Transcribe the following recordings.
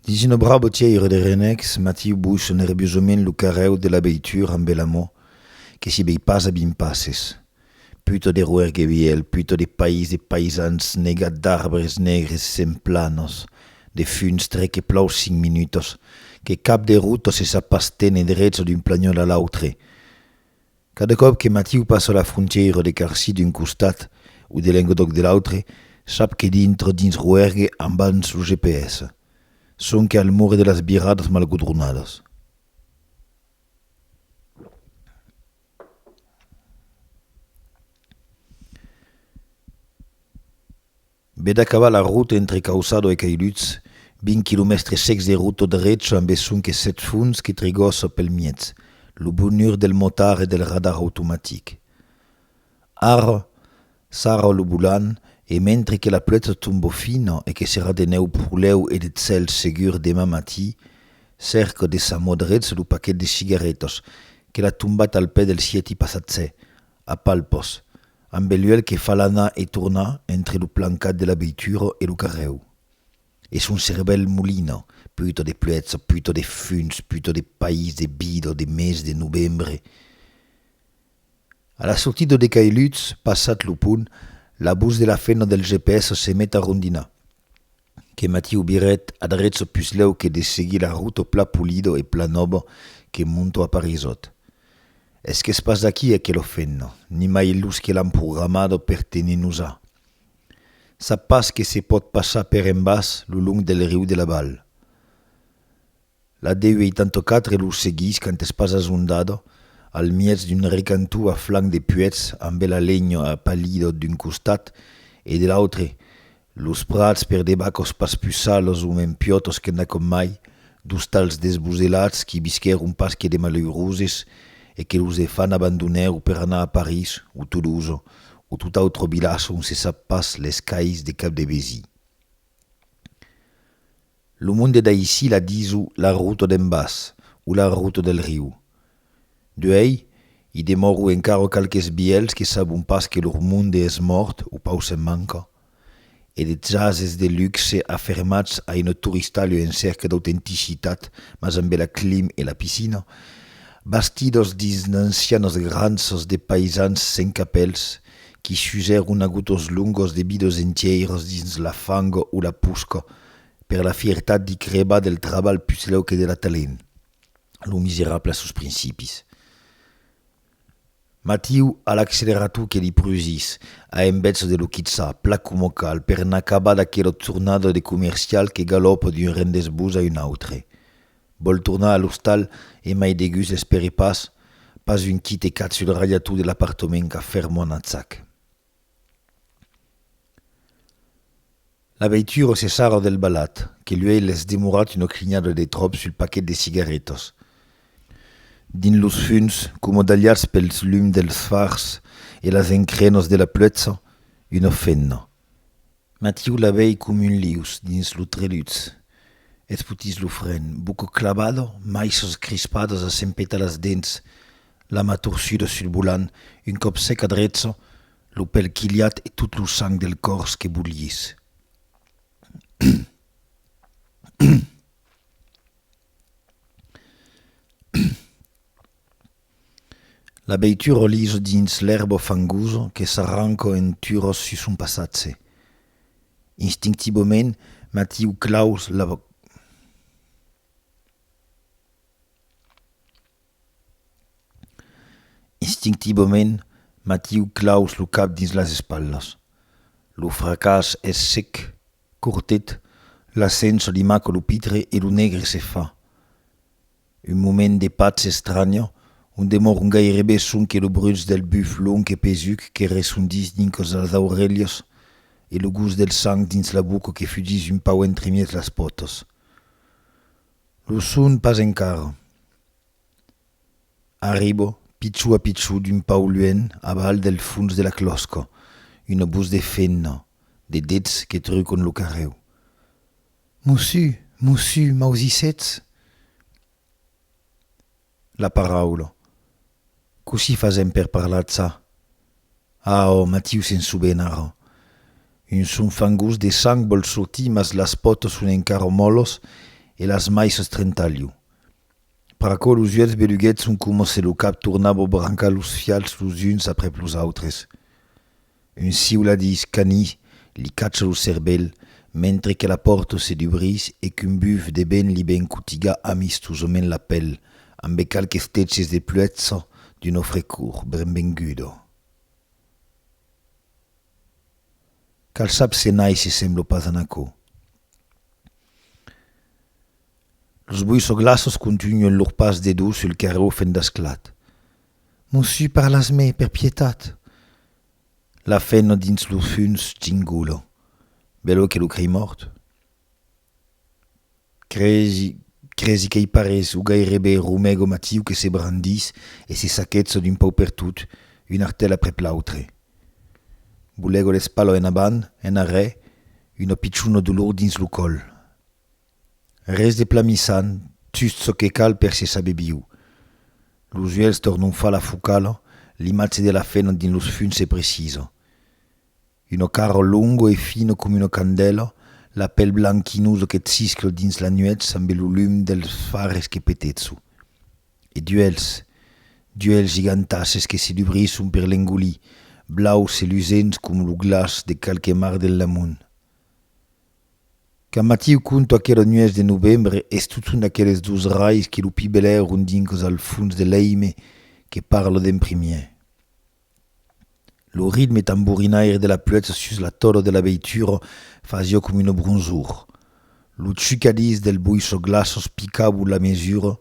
Dins una brava tièira de renècs, Matiu bussa nerviosament lo carrèu de la veitura ambe l'amor que si vei pas a vint passes. Puta de roèr gevièl, puta de país de paisans negat d'arbres negres sent planos, de funs tre que plòu cinc minutas, que cap de ruta se sap pas téner drets d'un planhòl a l'autre, Cada còp que Matiu passa la frontièira de Carcy d'un costat o de Lenguedoc de l'autre, sap que dintre dins Roergue ambans lo GPS. Sonque al more de las viradas mal godronadas. Be d'acaba la rota entre Cauçado e Cailhuts, 20 quilomèstres secs de rota drecha amb es sonques sèt fonts que trigossa pel mièg, lo bonur del motard e del radar automatic. Ara, sarra lo bolan e mentre que la plètza tomba fina e que serà de nèu prolèu e de cèl segur deman matí, cèrca de sa mò drech lo paquet de cigarretas que l'a tombat al pè del sieti passatge, a palpas, Amb Beluèlh que fa l'anar e tornar entre lo plancat de la veitura e lo carrèu. E son cervèl molina, puta de pluètza, puta de funs, puta de país, de vida, de mes de novembre. A la sortida de Cailhuts, passat lo pont, la bus de la fena del GPS se met a rondinar. Que Matiu Biret adreço puslèu que de seguir la ruto pla pulido e pla nobo que monto a Parisot. Es qu'es pas d'aquí e que lo fenno, nimai los que l'an programado per tenir nosà. Sap pas que se pòt passar per en bas lo long del riu de la Val. La deu 84 los seguís quand es pas azondada al miètz d'un recanto a flanc de puèths ambe la lenha a palidor d'un costat e de l'autre los prats per debat cos pas pus salos o mens piotos que n'a com mai dos tals desboselats qui visquèron pas que de malauroses e que los de fan abandonèro per anar a París o Toulouse o tot autre vilatge on se sap pas les cais de cap de vesí. Lo monde d'aicí la diso la ruta d'en bas o la ruta del riu. D'uèi, i demòro encara qualques vielhs que sabon pas que lor monde es mòrt o pau se'n manca, e de chases de luxe afermats a ino toristalho en cèrca d'autenticitat mas ambe la clim e la piscina, bastidos dins d'ancianas granças de paisans sen capèls qui s'usèron a gotos longos de vidos entièiras dins la fanga o la posca Per la fiertat d'i crebar del trabalh puslèu que de l'atalent, lo miserable a sos principis. Matiu a l'accelerator que li prusís, a embètz de lo quitza, plan coma cal, per n'acabar d'aquelo tornado de comercial que galòpa d'un rendez-vous a un autre. Vòl tornar a l'ostal e mai de gust l'espère pas, pas un quite cat sul radiator de l'apartament qu'a fermant Atzac. La veitura se sarra del balhat, que luei l'es demorat una crinhada de tròp sul paquet de cigarretas. Dins los funs, coma dalhats pels lums dels fars e las encrenas de la pluetza, una femna. Matiu la vei com un lius dins lo treluts, eth putís lo fren, buco clavado, maissos crispados a s'empetar las dents, la ma torçuda sul volant, un còp sec a dreço, lo pèl quilhat e tot lo sang del còrs que bulhís. La veitura o liso dins l'èrbo fangoso que s'arranco en turòs sus son passatge. Instinctivament, Matiu claus la boca. Instinctivament, Matiu claus lo cap dins las espalhas. Lo fracàs es sec, cortet, l'ascenso li maca lo pitre e lo negre se fa. Un moment de patz estranya, un demorn gairebe son que lo bruch del buf long e pesuc que ressondís dincos las aurelhas e lo gust del sang dins la boca que fugís un pauc entremièg las pòtas. Lo son pas encara. Arriba, pichou a pichou d'un pauc luènh aval del fons de la clòsca, una vos de femna, de dets que trucon lo carrèu. Mossu, mossu, m'ausissetz la paraula, cossí fasèm per parlar ça? Ah, ò Matiu se'n soben ara. Un son fangós de sang vòl sortir mas las pòtas son encara mòlas e las maish es trentalhu. Per aquò los uèlhs beluguets son coma se lo cap tornava brancar los fials los uns aprèp los autres. Un siuladís canís li cacha lo cervèl mentre que la pòrta se dubrís e qu'un buf de vent li ven cotigar amistosament la pèl ambe qualques teches de pluètsa d'una frecor brenvenguda. Cal sap se nai se sembla pas a n'aquò. Los boissoglaços contunhen lor pas de dos sul carrèu fent d'asclat. Mossu, parlas-me, per pietat! La feno dins lo funs chingulo, belo que lo crei mòrt. Cresi, cresi qu'ei parés o gairebe romego matiu que se brandís e se saquetzo d'un pau per tot, un artèl aprèp l'autre. Bolego l'espalho en avant, en arrè, un opiciuno dolor dins lo còl. Res de plan missant, just çò que cal per se saber viu. Los uèlhs tornon far la focala, l'imatge de la fena dins los funs se precisa. Una cara longa e fina coma una candèla, la pel blanquinosa que ciscla dins la nuèch ambe lo lum dels fares que peteço. E d'uèlhs, d'uèlhs gigantasses que se dubrisson per l'engolir, blaus e lusents coma lo glaç de qualque mar del Lamont. Quand Matiu conta aquela nuèch de novembre es totun aqueles dos rais que lo pibelèron dinc al fons de l'èime que parla d'en primièr. Lo ritme tamborinaire de la pluèja sus la tòla de la veitura fasiá com una bronzor. Lo chucadís del boisoglaços picabul la mesura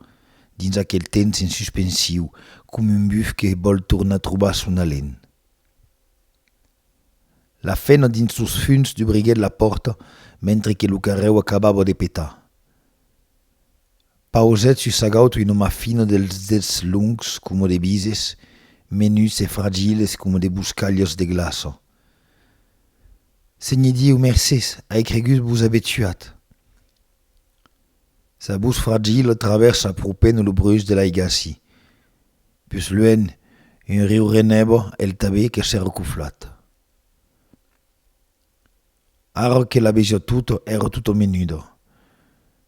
dins aquel temps en suspensiu, com un buf que vòl tornar trobar son alen. La fena dins sos funs dubriguèt la pòrta mentre que lo carrèu acabava de petar. Pausèt sus sa gaut una ma fina dels dets longs coma de bises, menuts e fragiles coma de boscalhas de glaça. Senhe Dieu, mercés, ai cregut vos aver tuat. Sa vos fragila travèrsa apropènt lo breuç de l'aigassi. Pus luènh, un riu renèva el tabèth que s'èra coflat. Ara que la vesia tota, èra tota menuda.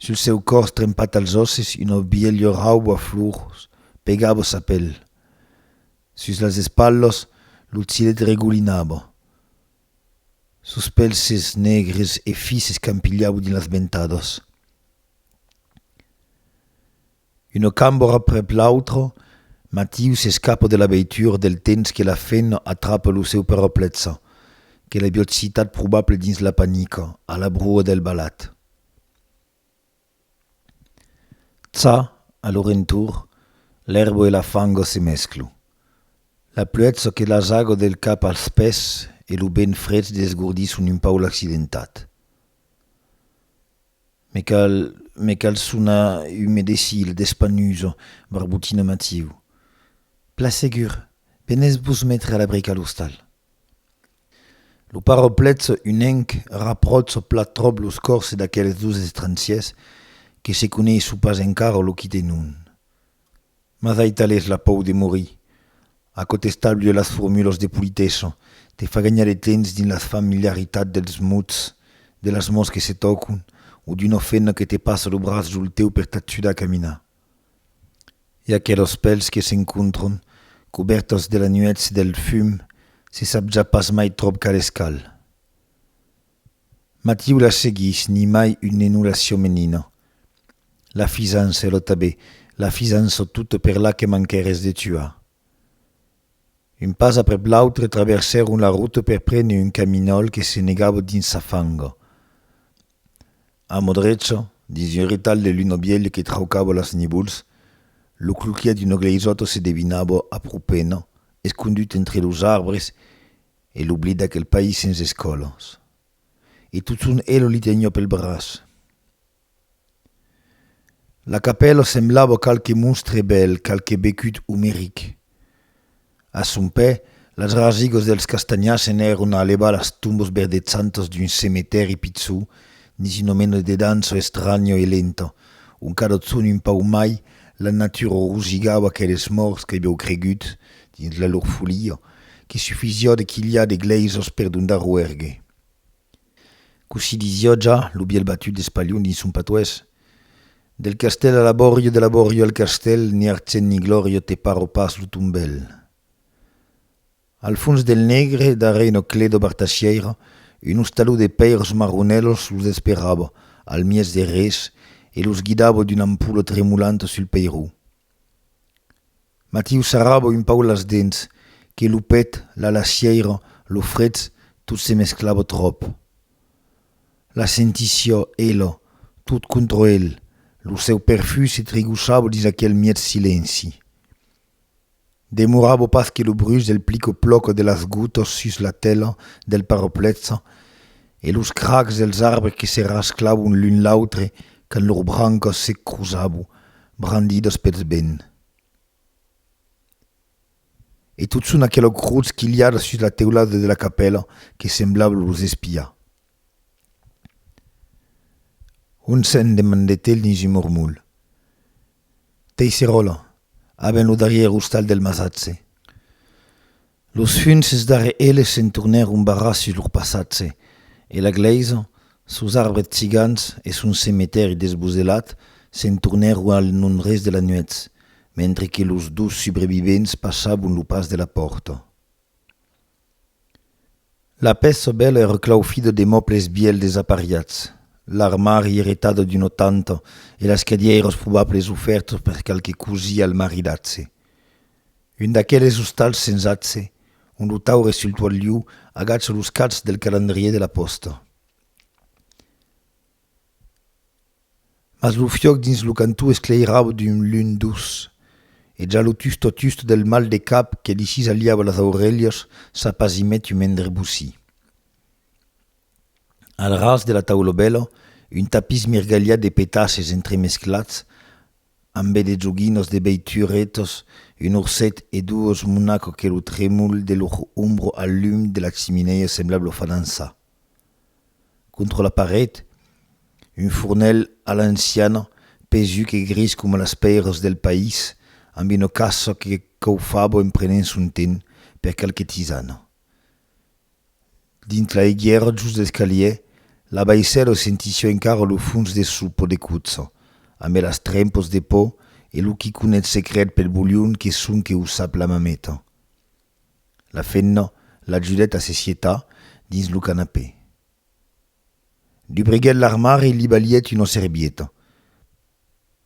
Sul seu còrs trempat als òsses una vielha rauba flors pegava sa pèl. Sus las espalhas lo cilet regolinava. Sos pèlses negres e fis s'escampilhavan dins las ventadas. Una cambra prèp l'autra, Matiu s'escapa de la veitura del temps que la femna atrapa lo seu peraplexa, que la biocitat probable dins la panica, a la brua del balat. Tsa, a lo rentorn, l'èrba e la fanga se mesclu. La pluètza que l'asaga del cap als pès e lo vent frech desgordisson un pau l'accidentat. Me cal, me cal sonar un medecil d'espanuso, barbotina Matiu. Plan segur, venètz vos metre a l'abric a l'ostal. Lo paroplètz unenc rapròtz plan tròp los còrses d'aqueles dos estransiers que se coneisson pas encara lo quitenon. Mas aital es la pòu de morir? Aquò t'estalvia las formulas de politessa, te fa ganhar de temps dins la familiaritat dels mots, de las mans que se tòcon o d'una femna que te passa lo braç jol teu per t'ajudar a caminar. E aquelas pèls que s'encontran, cobèrtas de la nuèch e del fum, se sap ja pas mai tròp cal es cal. Matiu la seguís nimai un nenula siomenina. La fisança, lo tabé, la fisança tota per la que manquères de tuar. Un pas aprèp l'autre traversèron la rota per prene un caminòl que se negava dins sa fanga. A mò drecha, dins un retalh de luna vièlha que traucava las nivols, lo cloquièr d'una gleisòta se devinava a pro pena, escondut entre los arbres E l'oblid d'aquel país sens escòlas. E totun elo li teniá pel braç. La capèla semblava qualque monstre bèl, qualque becut omeric. A son pè, las rasigas dels castanhars se'n èron a alebar las tombas verdedzantas d'un cemetèri pichon dins una mena de dança estranja e lenta, ont cada ton un pauc mai, la natura rosigava aqueles mòrts qu'aviáu cregut, dins la lor folia, que sufiziò de quilhar de glèisos per dondar roergue. Cossí disiò ja lo bièlh batut d'Espalhon dins son patoès, Del castèl a l'abòrio, de l'abòrio al castèl, ni argent ni glòrio te paro pas lo tombèl. Al fons del negre, darrèr una clé d'obertacièira, un ostaló de pèirs marronèlos los esperava, al mièg de res, e los guidava d'una ampula tremolant sul peiró. Matiu s'arrabo un pauc las dents, que lo pet, la lassièira, lo freds, tot se mesclava tròp. La sentissiá, ela, tot contra el, lo seu perfum se trigossava dins aquel mièg silenci. Demoravo pas que lo bruch del plico-ploco de las gotas sus la tela del parapletza e los cracs dels arbres que se rasclavon l'un l'autre quand lor brancas se crosavon, brandidas pels vents. E totson aquela crotz quilhada sus la teulada de la capèla que semblava los espiar. On sèn? demandèt-el dins un mormolh. Teissèrola, aben lo darrièr ostal del masatge. Los hunces darre eles se'n tornèron barrar sus lor passatge, e la glèisa, sos arbres cigans e son cemetèri desboselat se'n tornèron al non-res de la nuèch, mentre que los dos subrevivents passabon lo pas de la pòrta. La pèç sobèla èra claufida de mòbles vièlhs desapariats, l'armari eretat d'una tanta e las cadièiras probables ofèrtas per qualque cosí al maridatge. Un d'aqueles ostals sens atge, ont lo taure sul toalhiu agacha los cachs del calendrièr de la pòsta. Mas lo fiòc dins lo cantó esclairava d'un lum duç, e ja lo tusto-tusto del mal de cap que li cisaliava las aurelhas s'apasimèt un mendre bocí. Al ras de la taulobèla, un tapís mirgalhat de petaches entremesclats ambe de joguinas de beituretas, un orset e doas monacas que lo tremol de lor ombra al lum de la chiminèa semblava los falançar. Contra la paret, un fornelh a l'anciana, pesuc e gris coma las pèiras del país, amb una caça que caufava en prenent son temps per qualque tisana. Dins l'aiguièra just d'escalièr, la baissèla sentissiá encara lo fons de sopa de cotza, amé las trempas de pò e lo quiconet secret pel bolhon que sonque o sap la mameta. La femna l'ajudèt a se sietar dins lo canapè. Dubriguèt l'armari e li balhèt una servieta.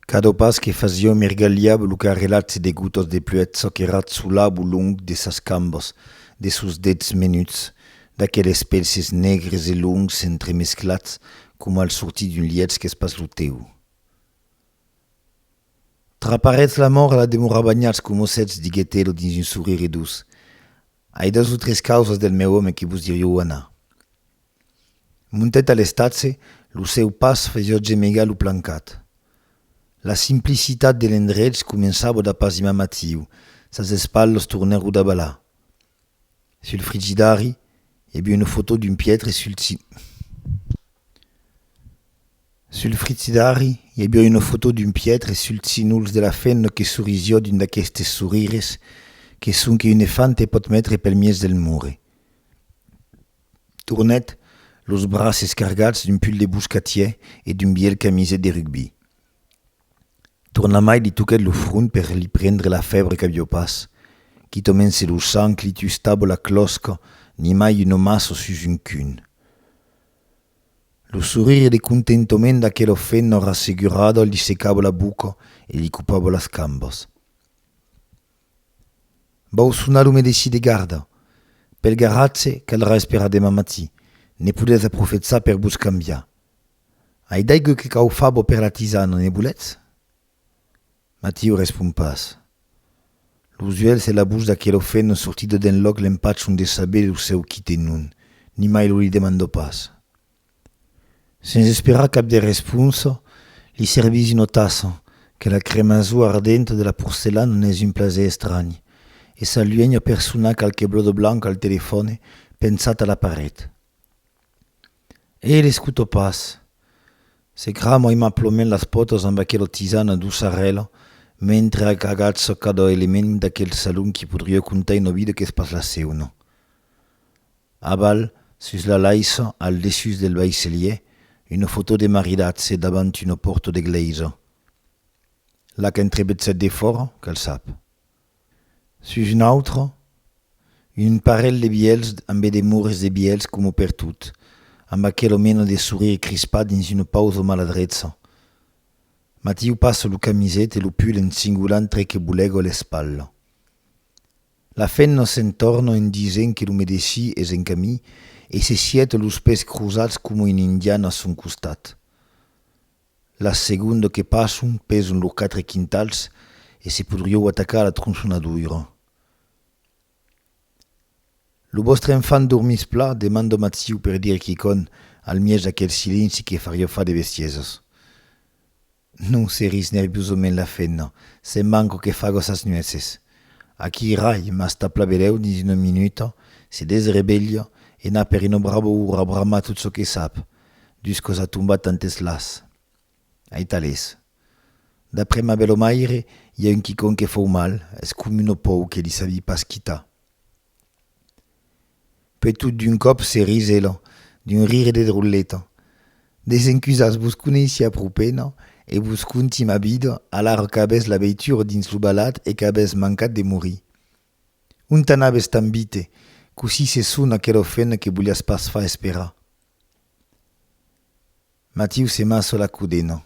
Cada pas que fasiá mergalhava lo carrelatge de gotas de pluèja que ratzolava o long de sas cambas, de sos dets menuts, d'aqueles pelses negres e longs entremesclats coma al sortir d'un lièch qu'es pas lo tèu. Traparetz la mòrt a la demorar banhats coma sètz, diguèt Elo dins un sorire doç. Ai dos o tres causas del meu òme que vos dirió anar. Montèt a l'estatge, lo seu pas fesió gemegar lo plancat. La simplicitat de l'endrech començava d'apasimar Matiu, sas espalhas tornèro davalar. Sul frigidari i b'una foto d'un pietre sul Sul frizidari i b'ia una foto d'un pietre sul cinuls de la fenna que soriziò d'un d'aquestes sorires que sonque un efante pòt metre pel mies del mure. Tornèt los braces cargats d'un pull de boscatièr e d'un bielh camiset de rugbi. Tornamai li toquèt lo front per li prendre la fèbre qu'avió pas. Quitament se lo sang li tustavo la clòsca, nimai un omasso sus un cun. Lo sorire de contentoment d'aquela fenna rassegurada li secavo la boca e li copavo las cambas. Vau sonar lo medecin de garda. Pel garatge caldrà esperar deman matí. Ne podètz aprofetzar per vos cambiar. Ai d'aigu que cau fabo per la tisana, ne voletz? Matiu respon pas. Los uelhs e la bouch d'aquelo feno sortido d'enlòc l'empachan de saber lo seu quite non, nimai lo li demandò pas. Sens esperar cap de responsa, li servís una tassa, que la cremazor ardenta de la porcelana n'es un plaser estranh, e s'aluenha per sonar qualque blòdo blanc al telefòne pensat a la paret. E l'escuto pas. Se crama aimaplament las pòtas amb aquela tisana doçarèla mentre agatsa cada element d'aquel salon qui podriá contar una vida qu'es pas la seuna. Aval, sus la laissa, al dessús del vaisselier, una fotò de maridatge davant una pòrta d'egleisa. La qu'entrebetza defòra, que'l sap. Sus un autre, un parelh de bièlhs ambe de mures de bièlhs coma pertot, amb aquelo mena de sorire crispat dins una pausa o maladreça. Matiu passa lo camisèt e lo pull en singulant tre que bolega a l'espatla. La femna se'n torna en disent que lo medecin es en camin e se sièt los pès crosats coma un indian a son costat. La segonda que passon peson lor quatre quintals e se podrieu atacar a la tronçonadoira. Lo vòstre enfant dormís pla? demanda Matziu per dire quicònh al mièg d'aquel silenci que fariá far de bestiesas. Non, se ris nerviosament la femna, se'n manco que faga sas nueces. Aquí rai, mas tà pla belèu dins una minuta, se desrevelha e n'a per un brabou rabrama tot çò que sap, Dus còs a tombat tantes las. Aitalés. D'après ma belomaire, i a un quicòm que fòu mal, es com un opòu que li sabi pas quitar. Puèi tot d'un còp se risèla, d'un rire de droleta. Desencusatz vos coneissiá pro pena e vos conti ma vida alara qu'avètz la veitura dins lo balat e qu'avètz mancat de morir. Ont anavètz tan vite? Cossí se sona aquela ofena que voliatz pas far esperar? Matiu se masso la codena.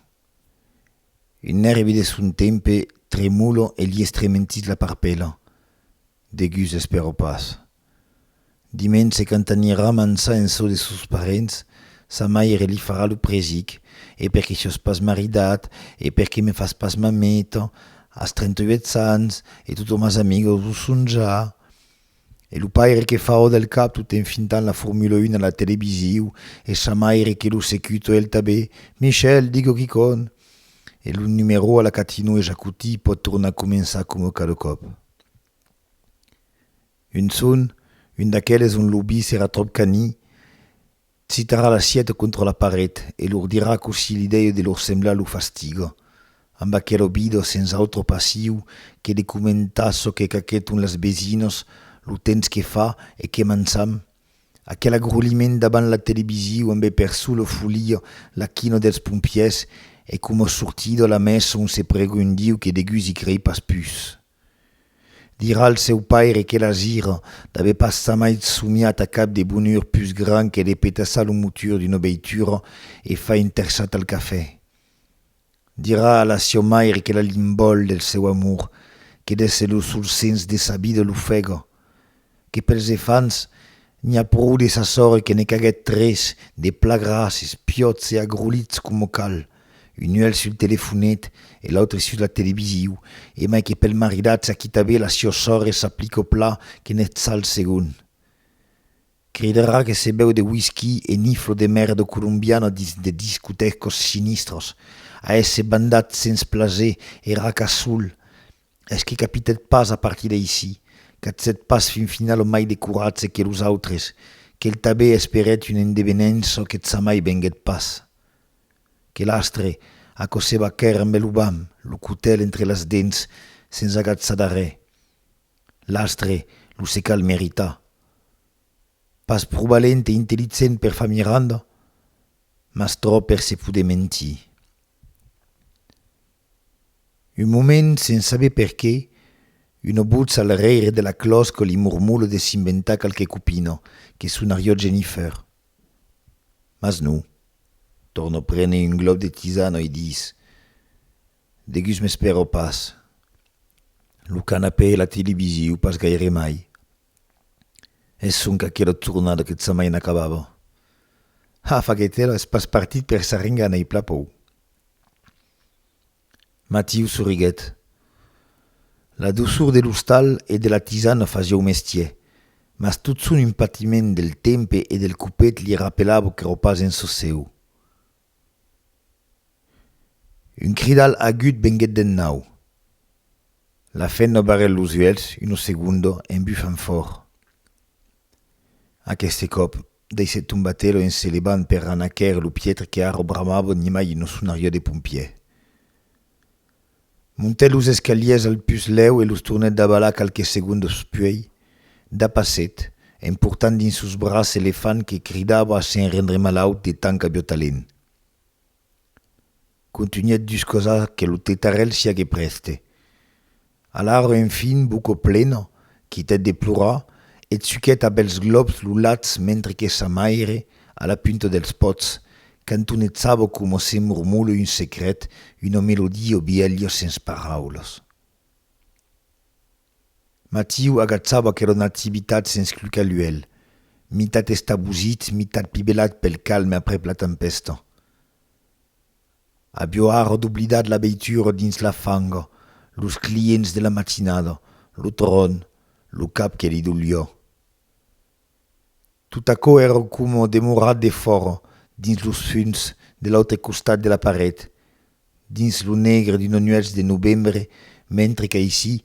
Un nèrvi de son tempe tremolo e li estrementís la parpèla. Degus espèro pas. Diments se qu'entanirà mançar en çò de sos parents, sa maire li farà lo presic, e perqué siós pas maridat, e perqué me fas pas mameta, as 38 ans, e totomas amigos lo son ja. E lo paire que fa ò del cap tot en fintant la Formula un a la televisiu, e sa maire que lo secuto e el tabé, Michel, digo quicòn! E lo numerò a la Catino e ja cotí pòt tornar començar coma cada còp. Un son, un d'aqueles ont lo bis èra tròp canii, Citarà l'assièt contra la paret e lor dirà cossí li deu de lor semblar lo fastiga. Amb aquel obido sens autre passiu que de comentar çò que qu'aqueton las besinas, lo temps que fa e que mançam, aquel agroliment davant la televisiu ambe per sola folia la quina dels pompièrs e coma sortida la mèsa on se pregundiu que degusi crei pas pus. Dirà al seu paire que la zira d'avè pas samait somiat a cap de bonur pus gran que de petassar lo motur d'una veitura e far un terçat al cafè. Dirà a la siò maire que la limbòl del seu amor que d'èsser lo sol sens de sa vida l'ofega, que pels efants n'i a prou de sa sòrre que ne caguèt tres de plats grasses, piòts e agrolits coma cal, un uèlh sul telefonet e l'autre sus la televisiu, e mai que pel maridat s'aquita be la siò sòrre s'aplico plat que n'eth sal segon. Cridarà que se bèu de whisky e niflo de merda colombiana dins de discotècos sinistros, a èsser bandat sens plaser e raca sul Es que capitèt pas a partir d'aicí, qu'atzèt pas fin final lo mai de coratge que los autres, qu'el tabé esperèt un endevenent çò que tsamai venguèt pas. Que l'astre, aquò se va quèr ambe lo bam, lo cotèl entre las dents, sens agatsar d'arrè. L'astre, lo se cal meritar. Pas pro valent e intellicent per far Miranda, mas tròp per se poder mentir. Un moment, se'n sabe perqué, una botz al reire de la clòsca li mormole de s'inventar qualque copina, que sonarió Jennifer. Mas non. Tornò prene un glòp de tisana e dis, Degus m'espèro pas. Lo canapè e la televisiu pas gaire mai. E sonque aquela tornada que sa mai n'acabava. Ha, faguèt ela, es pas partit per s'arringar n'ei pla pòu. Matiu sorriguèt. La doçor de l'ostal e de la tisana fasiá o mestier, mas tot son un patiment del tempe e del copet li rapelava qu'èra pas en çò seu. Un cridal agut venguèt d'en nau. La femna barrèt los uèlhs uno segundo en bufant fòrt. Aqueste còp, deishèt tombar Telo en se levant per anar quèrre lo pietre que ara bramava nimai un sonariò de pompièr. Montèt los escalièrs al pus lèu e los tornèt davalar qualques segondas puèi, dapassèt, emportant dins sos braç Elefant que cridava sen rendre malaut de tant qu'aviá talent. Contunhèt dus cosas que lo tetarèl siá que prèste. Alara enfin, boca plena, quitèt de plorar e tzuquèt a bèls glòps lo latz mentre que sa maire, a la punta dels pòts, cantonetjava coma se mormole un secret, una melodia bièlha sens paraulas. Matiu agachava aquela nativitat sens clucar l'uèlh, mitat estabosit, mitat pibelat pel calme aprèp la tempèsta. Avió ara doblidat la veitura dins la fanga, los clients de la matinada, lo tròn, lo cap que li dolió. Tot aquò èra coma demorat defòra, dins los funs de l'autre costat de la paret, dins lo negre d'una nuèch de novembre, mentre qu'aicí,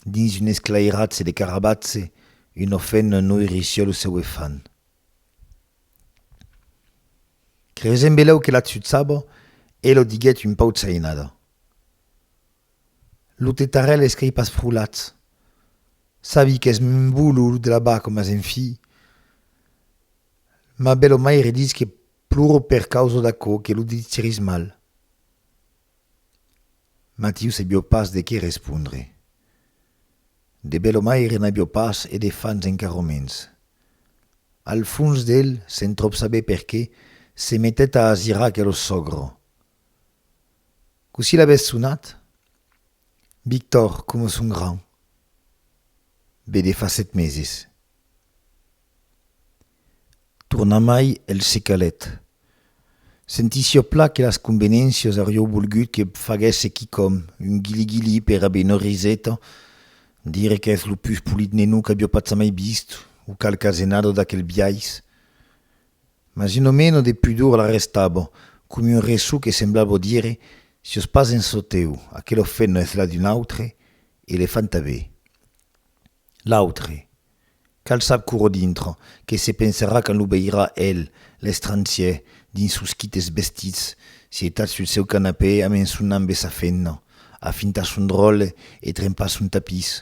dins un esclairatge de carabatge, una fenna noirissió lo seu efant. Creisent belèu que l'atzutzava, e lo diguèt un pauc sainada. Lo tetarèl esquei pas frolat. Sabi qu'es mbo lo labar coma se'n fi, ma be lo maire ditz que ploro per causa d'aquò que lo ditiris mal. Matiu sabió pas de qué respondre. De Belomaire n'avió pas e de fans encarò mens. Al fons d'el, sen tròp saber perqué, se metèt a asirar aquelo sògro. Cossí l'avès sonat? Victor, coma son gran. Be de fa set meses. Tornamai el se calèt. Sentissió plan que las convenéncias aurió volgut que faguèsse quicòm, un guili-guili per aver una riseta, dire qu'es lo pus polit nenou qu'avió patzamai vist o qualque asenada d'aquel biais. Mas un omeno de pudor l'arrestava, com un resson que semblava dire, Sios pas en çò teu, aquela ofena es la d'un autre, e le fan tanbé. L'autre. Cal sap curo dintre, que se pensarà quand lo veirà el, l'estrangier, dins sos quites vestits, sietat sul seu canapè a mençonar ambe sa fenna, a fintar son dròlle e trempar son tapís?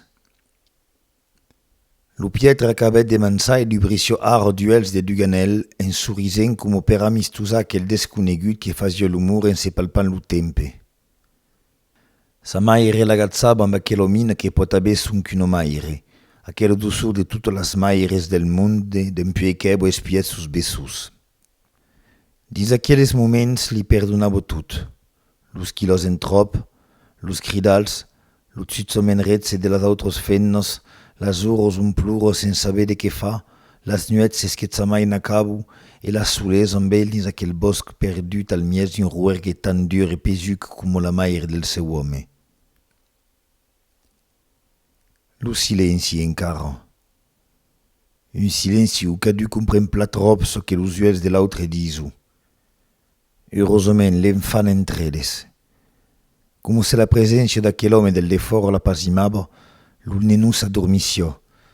Lo piètre acabèt de mançar e dubrissió arro d'uèlhs de Duganèl, en sorisent coma per amistosar aquel desconegut que fasió lo mur en se palpant lo tempe. Sa maire l'agatzava amb aquela mina que pòt aver sonque una maire, aquela doçor de totas las maires del monde dempuèi qu'èvo espiat sos besots. Dins aqueles moments li perdonavo tot, los quilòs en tròp, los cridals, lo tsutsament retze de las autras femnas, las oras ont plora sensaver de qué far, Las nuèchs s'esquetzamai en acabo e las solés amb el dins aquel bòsc perdut al mièg d'un roergue tan dur e pesuc coma la maire del seu òme. Lo silenci encara. Un silenci o cadun compren plat ròp çò que los uèlhs de l'autre diso. Eurosament le'n fan entre eles. Coma se la preséncia d'aquel òme del defòra l'apasimava, lo nenon s'adormissiá,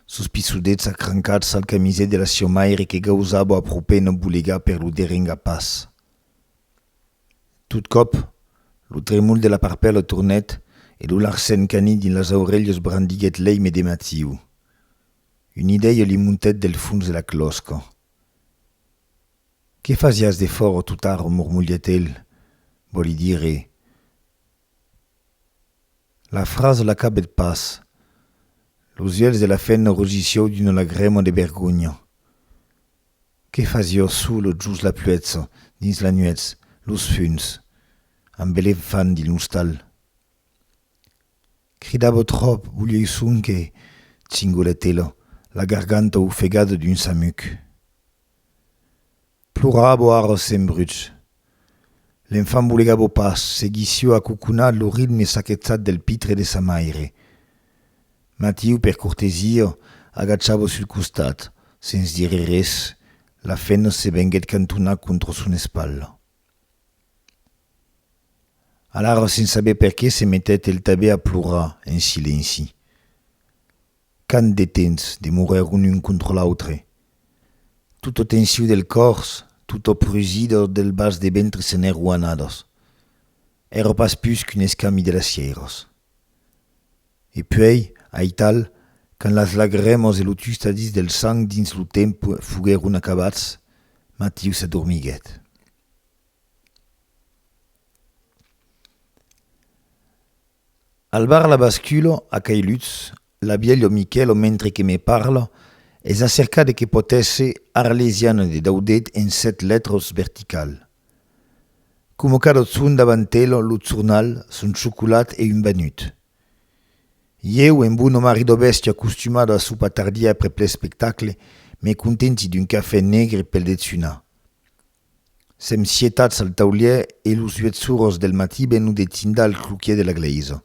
sos pissudets acrancats al camiset de la sieu maire que gausava a propè no bolegar per lo derengar pas. Tot còp, lo tremol de la parpèla tornèt e lo Larsen cani dins las aurelhas brandiguèt l'èime de Mathieu. Una idèia li montèt del fons de la clòsca. Qué fasiás de fòro tot arro? mormolhèt el, vòli dire. La frasa l'acabèt pas. Los uèlhs de la femna rogissió d'una lagrèma de vergonha. Qué fasió solo jos la pluètza, dins la nuètz, los funs, amb l'enfant dins l'ostal? Cridava tròp, volioi sonque, cingolèt ela, la garganta ofegada d'un samuc. Plorabo ara se'n bruch. L'enfant bolegabo pas, seguissió acoconat lo ritme saquetzat del pitre de sa maire. Matiu, per cortesia, agachabo sul costat, sens dire res, la fenna se venguèt cantonar contra son espatla. Alara se'n saber perqué se metèt el tabé a plorar en silenci. Quant de temps demorèron un contra l'autre? Tota tensiu del còrs, tota prusida del bas de ventre se n'èro anadas. Èra pas pus qu'un escami de las sièiras. E puèi, aital, quand las lagrèmas e lo tustadís del sang dins lo tempe foguèron acabats, Matiu s'adormiguèt. Al bar la basculo a cai Lutz, l'abielho Michèlo mentre que me parla, es acerca de que pòt èsser arlesiana de Daudet en sèt lètros vertical. Como cadò çun davantelho lo zurnal, son chocolat e un banut. Ieu, en bono marido bèsti acostumado a sopar tardia aprèp l'espectacle, me contenti d'un cafè negre pel dejunar. Sèm sietats al taulièr e los uet suros del matí venu de tindar al cloquièr de la glèisa.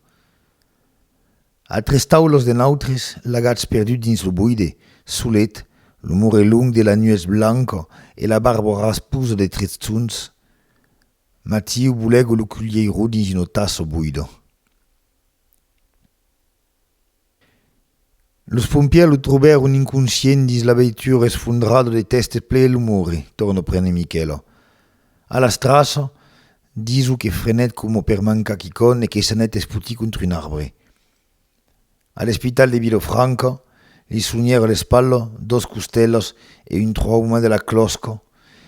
A tres taulos de nautres, lagats perdut dins lo boide, solet, lo mure long de la nues blanca e la barbra rasposa de tres tsunhs, Matiu bolègo lo culhièiro dins una tassa boida. Los pompièrs lo trobèron inconscient dins la veitura esfondrada de tèstes ple lo morre, torna prene Michèla. A la straça, diso que frenèt coma per mancar quicòm e que s'anèt espotir contra un arbre. A l'espital de Vilafranca, li sonhèra l'espatla, dos costèlas e un trauma de la clòsca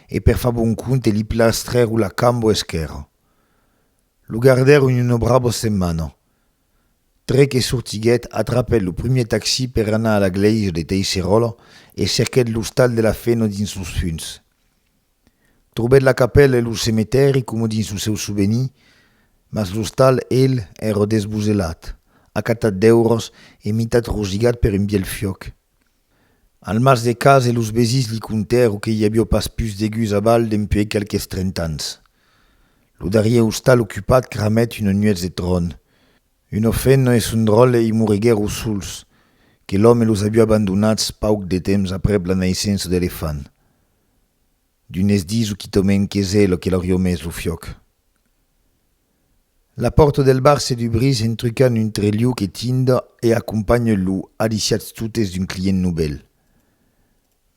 e per far bon compte li plastrèron la camba esquèrra. Lo gardèron una brava setmana. Tre que sortiguèt, atrapèt lo primièr taxi per anar a la glèisa de Teiseròla e cerquèt l'ostal de la Feno dins los funs. Trobèt la capèla e lo cemetèri coma dins lo seu sovenir, mas l'ostal, el, èra desboselat, acatat deurós e mitat rosigat per un bielh fiòc. Al mas de Case los vesins li contèro que i avió pas pus de gus a Val dempuèi qualques trenta ans. Lo darrier ostal ocupat cramèt una nuètz de tròn. Un ofenno e son dròlle i moriguèro sols, que l'òme los avió abandonats pauc de temps aprèp la naissença de l'efant. D'unes diso quitament qu'es ela que l'aurió mes lo fiòc. La pòrta del bar se dubrís en trucant un trelhau que tinda e acompanha lo aliciatz totes d'un client novèl.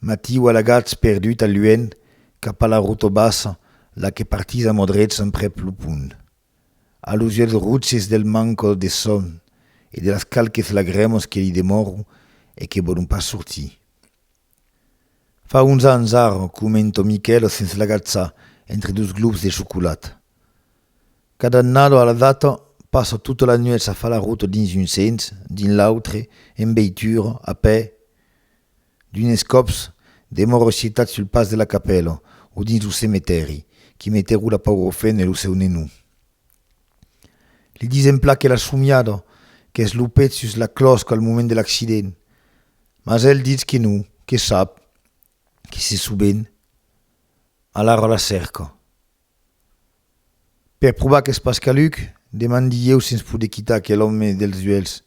Matiu alagatz perdut al luènh cap a la rota bassa, la que partís a modrets emprèp lo pont. A los uèlhs rotses del manco de sòn e de las qualques lagrèmas que li demòron e que vòlon pas sortir. Fa uns ans ara comento Miquel sens l'agatzar entre dos globs de chocolat. Cada annada a la data passa tota la nuèch a far la rota dins un sens, dins l'autre, en veitura, a pè, d'unes còps demòra escitat sul pas de la capèla o dins lo cemetèri qu'i metèron la paura fen e lo seu nenou. Li disèm plan que la somiada qu'es lo pet sus la clòsca al moment de l'accident, Mas el ditz que non, que sap que se soben alara la cèrca. Per provar qu'es pas caluc, demandi ieu se'ns pode quitar aquel òme dels uelhs.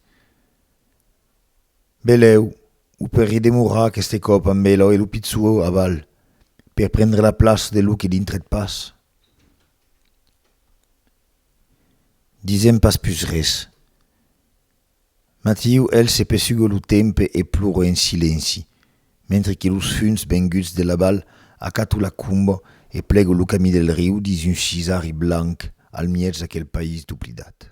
Belèu, o per redemorar aqueste còp amb ela e lo pitzou a bal, per prendre la plaça de lo que dintret pas. Disèm pas pus res. Matiu, el se pesuga lo tempe e plora en silenci, mentre que los funs venguts de l'abal acatu la cumba e plego lo camí del riu dins un sisari blanc al miètz d'aquel país doblidat.